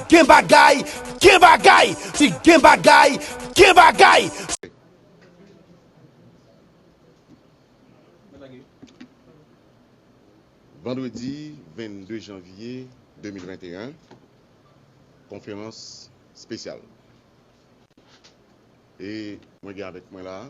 Gen bagay! Gen bagay! Si gen bagay! Gen bagay! Vandredi 22 janvye 2021 Konferans spesyal E mwen gen avèk mwen la a.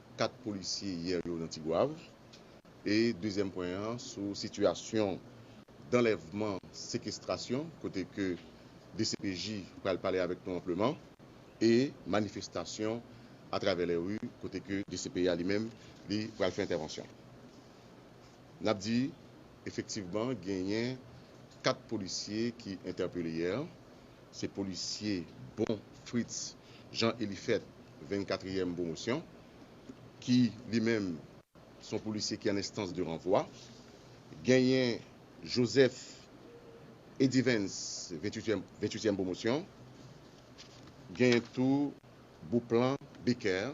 4 polisye yè yo nan Tigwav e dezyèm pwen an sou sitiyasyon danlèvman, sekestrasyon kote ke dcpj pral pale avèk nou anpleman e manifestasyon atravè lè ri kote ke dcpj li menm li pral fè entèvansyon. Nap di. Efektivman genyen 4 polisye ki entèpele yè, se polisye Bon Fritz Jean Eliphet 24 ème pwomosyon ki li menm son polisye ki an enstans de ranvwa, genyen Joseph Edivens 28 ème pwomosyon, genyen tou Beauplan Becker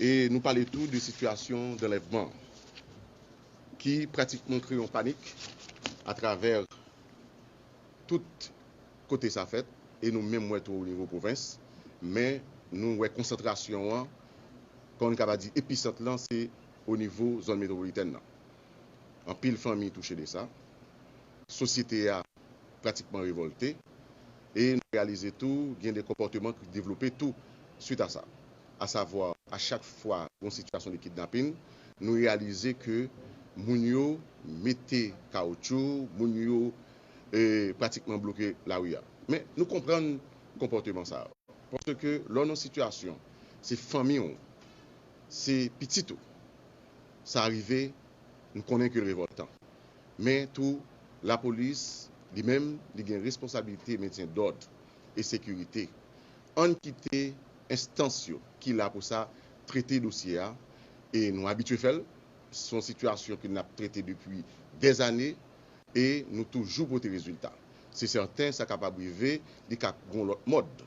E nou pale tou de sitiyasyon danlèvman an ki pratikman kreye yon panik atravè tout kote sa fèt e nou menm wè tou o nivo pwovens. Men nou wè konsantrasyon an, kòm nou ta va di episant lan se o nivo zòn metwopolitèn lan. Anpil fanmi touche de sa. Sosyete a. pratikman revòlte e nou reyalize tou gen de konpòteman ki devlope tou swit a sa. Asavwa, a chak fwa gon sitiyasyon de kidnapin, nou reyalize ke moun yo mete kawoutchou, moun yo pratikman bloke lari a. Men nou konprann konpòteman sa yo. Paske lè w nan sitiyasyon, se fanmi w, se pitit ou sa rive, nou konnen ke l revòltan. Men tou, lapolis, li menm, li gen responsabilite mentyen dòd e sekirite. Ann kite enstans yo ki la pou sa trete dosye a e nou abitye fè l. Se yon sitiyasyon ke n ap trete depi dèzane e nou toujou pote rezilta. Se sèten sa kapab rive li ka gen yon lòt mòd.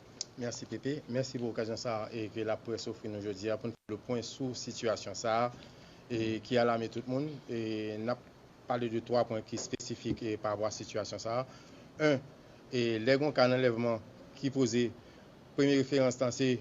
Mèsi Pepe, mèsi pou okazyon sa a ke laprès ofri nou jodi a pou n fè le pwen sou sitiyasyon sa a ki alame tout moun. N ap pale de twa pwen ki spesifik parapò a sitiyasyon sa a. 1, Lè gen yon ka anlèvman ki poze, premye referans lan se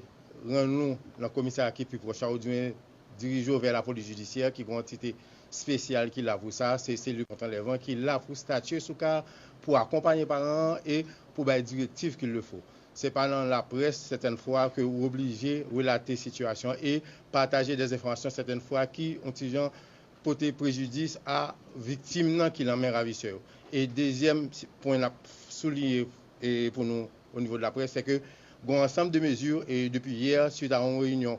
rann ou nan komisarya ki pi pwòch a oubyen dirije w vè lapolis jidisyè ki gon antite spesyal ki la pou sa, se selil kont anlèvman ki la pou statye sou ka a, pou akonpanye paran an e pou bay direktiv kil le fo. Se pa nan laprès sètèn fwa ke ou oblije relate sitiyasyon e pataje dè enfòmasyon sètèn fwa ki on ti jan pote prejidis a viktim nan ki lan men ravisè yo. E dezyèm pwen nap souliye pou nou o nivo de laprès se ke gon ansanm de mezi depi yè swit a on reyinyon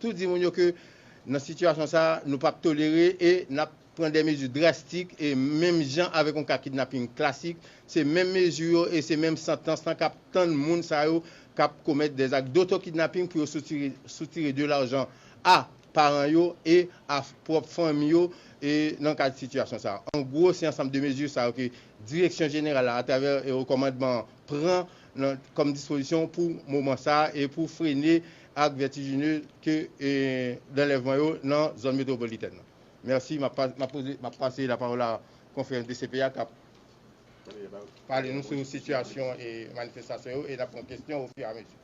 tou di moun yo ke nan sitiyasyon sa a nou pap tolere e nap pran dè mezi drastik e menm jan avèk yon ka kidnaping klasik se menm mezi yo e se menm santans lan kap tann moun sa yo kap komèt dè zak doto kidnaping pou yo soutire de lajan a paran yo e a pwòp fanmi yo e nan kad sitiyasyon sa a an gwo se ansanm de mezi sa yo ke direksyon jeneral la atravè okòmandman an pran nan kòm dispozisyon pou moman sa a e pou frene ak vertigineuse ke d'enlèvman yo nan zòn metropolitèn nan. Mèsi, m'ap pase la pawòl a konfrè DCPA k'ap pale nou sou sitiyasyon manifestasyon yo e n'ap pran kestyon o fur et à mesure.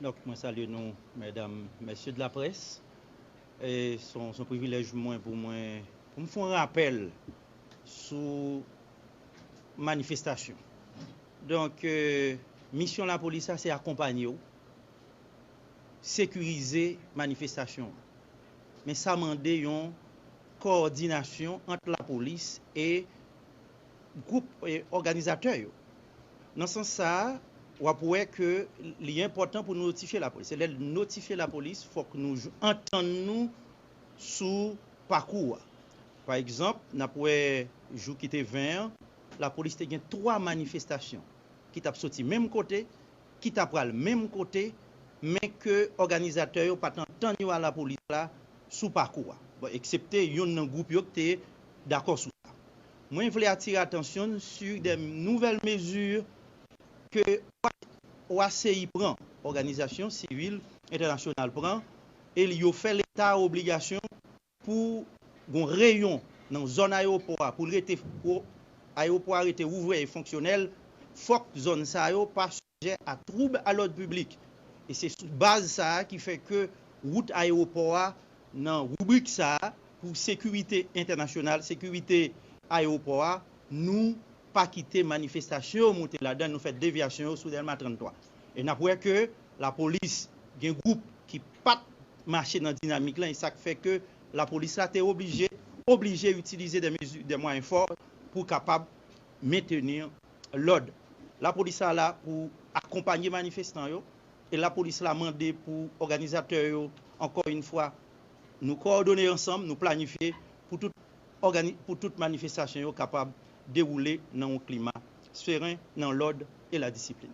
Donk mwen salye nou mèdam, mèsye de la près. E son privilèj mwen pou mwen pou m f'on rapèl sou manifestasyon. Donk misyon lapolis la se akonpanye w. sekirize manifestasyon an. Men sa mande yon kowòdinasyon ant lapolis e gwoup òganizatè yo. Nan sans sa, w ap wè ke li enpòtan pou notifye lapolis. Se lè n notifye lapolis fòk nou antann nou sou pakou a. Pa egzanp, n ap wè jou ki te 20 an, lapolis te gen 3 manifestasyon ki t ap soti menm kote, ki ta pral menm kote men ke òganizatè yo pa t antann yo a lapolis la sou pakou a, bon eksepte youn nan gwoup yo k te dakò sou sa. Mwen vle atire atansyon n su de nouvèl mezi ke OACI pran, Òganizasyon Sivil Entènasyonal pran, e li yo fè leta obligasyon pou gon reyon nan zòn ayewopò a pou l rete pou ayewopò a rete ouvè e fonksyonèl fòk zòn sa yo pa sijè a twoub a lòd piblik e se sou baz sa a ki fè ke wout ayewopò a nan ribrik sa a pou sekirite entènasyonal sekirite ayewopò a nou pa kite manifestasyon yo moute ladan nou fè devyasyon yo sou dèlma 33. E nap wè ke lapolis gen gwoup ki pat mache nan dinamik lan e sak fè ke lapolis la te oblije oblije itilize dè mezi dè mwayen fò pou kapab menteni lòd. Lapolis la la pou akonpanye manifestan yo e lapolis la mande pou òganizatè yo ankò yn fwa nou kowòdone ansanm nou planifye pou tout ògani pou tout manifestasyon yo kapab dewoule nan yon klima sferen nan lòd e la disiplin.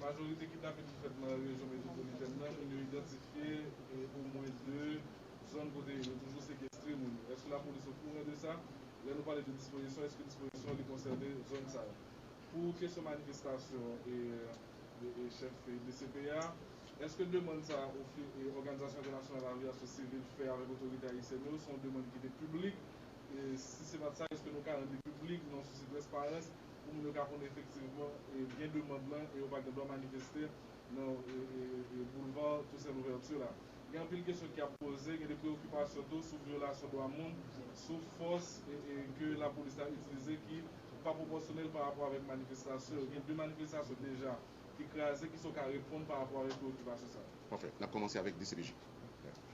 Majorite kidnapin ki fèt nan rejyon metwopolitèn nan, moun yo idantifye omwen 2 zòn kote yo toujou sekestre moun yo. Èske lapolis okouran de sa? Lè nou pale de dispozisyon, èske dispozisyon an li konsène zòn sa yo? Pou kesyon manifestasyon chèf dcp a, èske demann sa a ofi Òganizasyon Entènasyonal Aviyasyon Sivil fè avèk otorite ayisyèn yo, se yon demann ki te piblik? Si se pa t sa, èske nou ka rann li piblik nan yon sousi trèsparans? pou moun yo ka konnen efektivman gen demand lan e yo pa gen dwa manifeste nan Boulevard Toussaint Louverture la. Gen anpil kesyon ki ap poze, gen de preyokipasyon tou sou vyolasyon dwa moun, sou fòs ke lapolis la itilize ki pa pwopòsyonèl pa rapò avèk manifestasyon yo. Gen 2 manifestasyon deja ki kraze, kisa w ka reponn pa rapò avèk preyokipasyon sa yo? Pafè. N ap kòmanse avèk dcpj.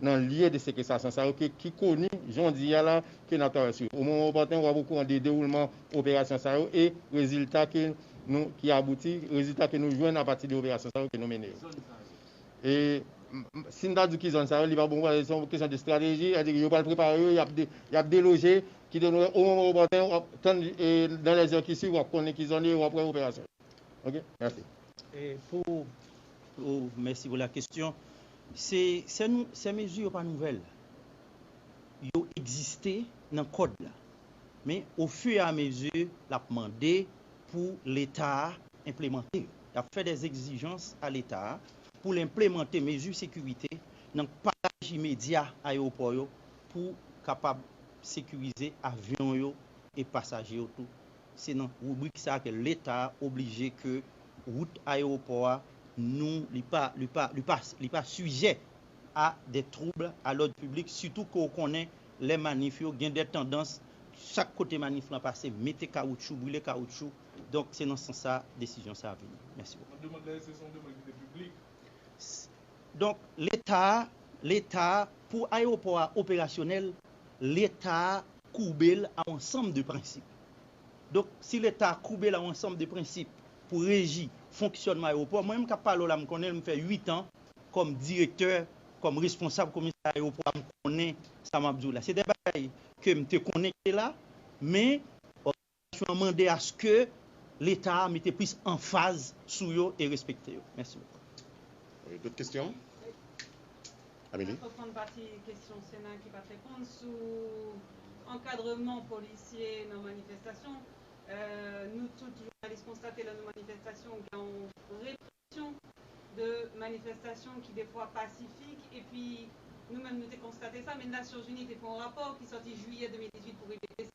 nan lye de sekestasyon sa yo ke ki koni jondi a la ke n ap travay sou yo. O moman opòten, w ap okouran de dewoulman operasyon sa yo e rezilta ke nou, ki abouti, rezilta ke nou jwenn apati de operasyon sa yo ke nou mennen yo. E, si m ta di w ki zòn sa yo, li pa bon pou pale, se yon kesyon de estrateji, sa vle di yo pral prepare yo, y ap, y ap deloje, kite nou wè, o moman opòten, w ap tann, e nan lèzè ki swiv w ap konnen ki zòn yo e w ap wè operasyon yo. Ok merci. Pou ou mèsi pou la kestyon. Se sè mezi yo pa nouvèl. Yo egziste nan kòd la. Men o fu e a mezi l ap mande pou leta a enplemante yo. Y ap fè dè egzijans a leta a pou l enplemante mezi sekirite nan pataj imedya ayewopò yo pou kapab sekirize avyon yo e pasaje yo tou Se nan ribrik sa ke leta oblije ke wout ayewopò a nou li pa li pa li pa li pa sijè a de twoubl a lòd piblik sitou ke w konnen lè manif yo gen de tandans chak kote manif lan pase mete kawoutchou brile kawoutchou donk se nan sans sa desizyon sa vini. Mèsi bokou. Demand la eske se yon demand ki te piblik? Donk leta leta pou ayewopò a operasyonèl leta koube l a ansanm de prensip. Donk, si Leta koube l a ansanm de prensip pou reji fonksyònman ayewopò, mwen menm k ap pale w la m konnen l, m fè uit an kòm direktè, kòm responsab komisarya ayewopò a, m konnen sa m ap di w la. Se de bagay ke m te konnen ki te la, men. Konvansyon an mande aske Leta a mete plis anfaz sou yo e respekte yo. Mèsi bokou. Dòt kesyon? Amelie? Mwen reponn pati kesyon Sena ki pat reponn sou ankadreman polisye nan manifestasyon. Nou tout jounalis konstate lè nou manifestasyon gen yon represyon de manifestasyon ki defwa pasifik epi nou menm nou te konstate sa men Nasyonzini te fè yon rapò ki sòti jiyè 2018 pou rive desanm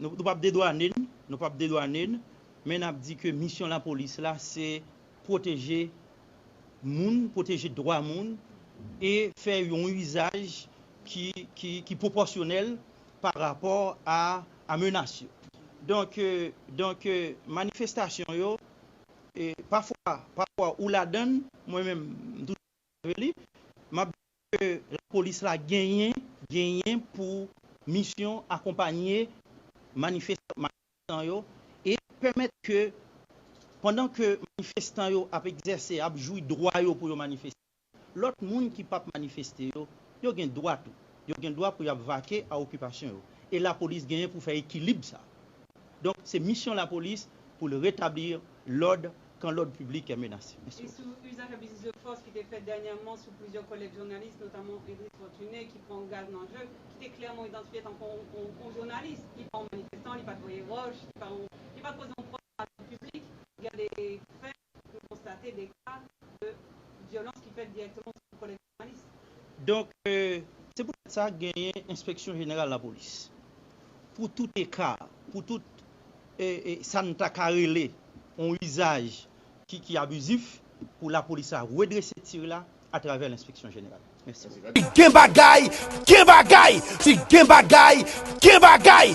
Nou pap dedwane n, nou pap dedwane n, men nap di ke misyon lapolis la se pwoteje moun, pwoteje dwa moun e fè yon izaj ki pwopòsyonèl pa rapò a menas yo. Donk manifestasyon yo, pafwa ou ladan, mwen menm m toujou. Dapre li, m ap di ke lapolis la genyen genyen pou misyon akonpanye manifestan yo e pèmèt ke pandan ke manifestan yo ap egzèse, ap jwi dwa yo pou yo manifeste, lòt moun ki pap manifeste yo, yo gen dwa tou. Yo gen dwa pou y ap vake a okipasyon yo. E lapolis genyen pou fè ekilib sa a. Donk, se misyon lapolis pou l retabli lòd kan lòd piblik kè menase. Mèsi bòs. Sou uzaj ak biznis de fòs ki te fèt dènyèman sou plizyè kòlèg jounalis, notamman Edris Fortuné ki pran gaz nan je, ki te klèman idantifye tankou yon jounalis. Li pa yon manifestan, li pa t voye wòch, li pa li pa t poze yon pwòp nan lari piblik. Gen de fè, nou konstate de ka de vyolans ki fèt dirèkteman sou kòlèg. Donk, se poutèt sa genyen enspeksyon jeneral lapolis. Pou tout eka, pou tout sa n ta ka rele yon izaj ki abizif, pou lapolis la redrese tir la atravè lenspeksyon jeneral. Mèsi. Si gen bagay, gen bagay! Si gen bagay, gen bagay!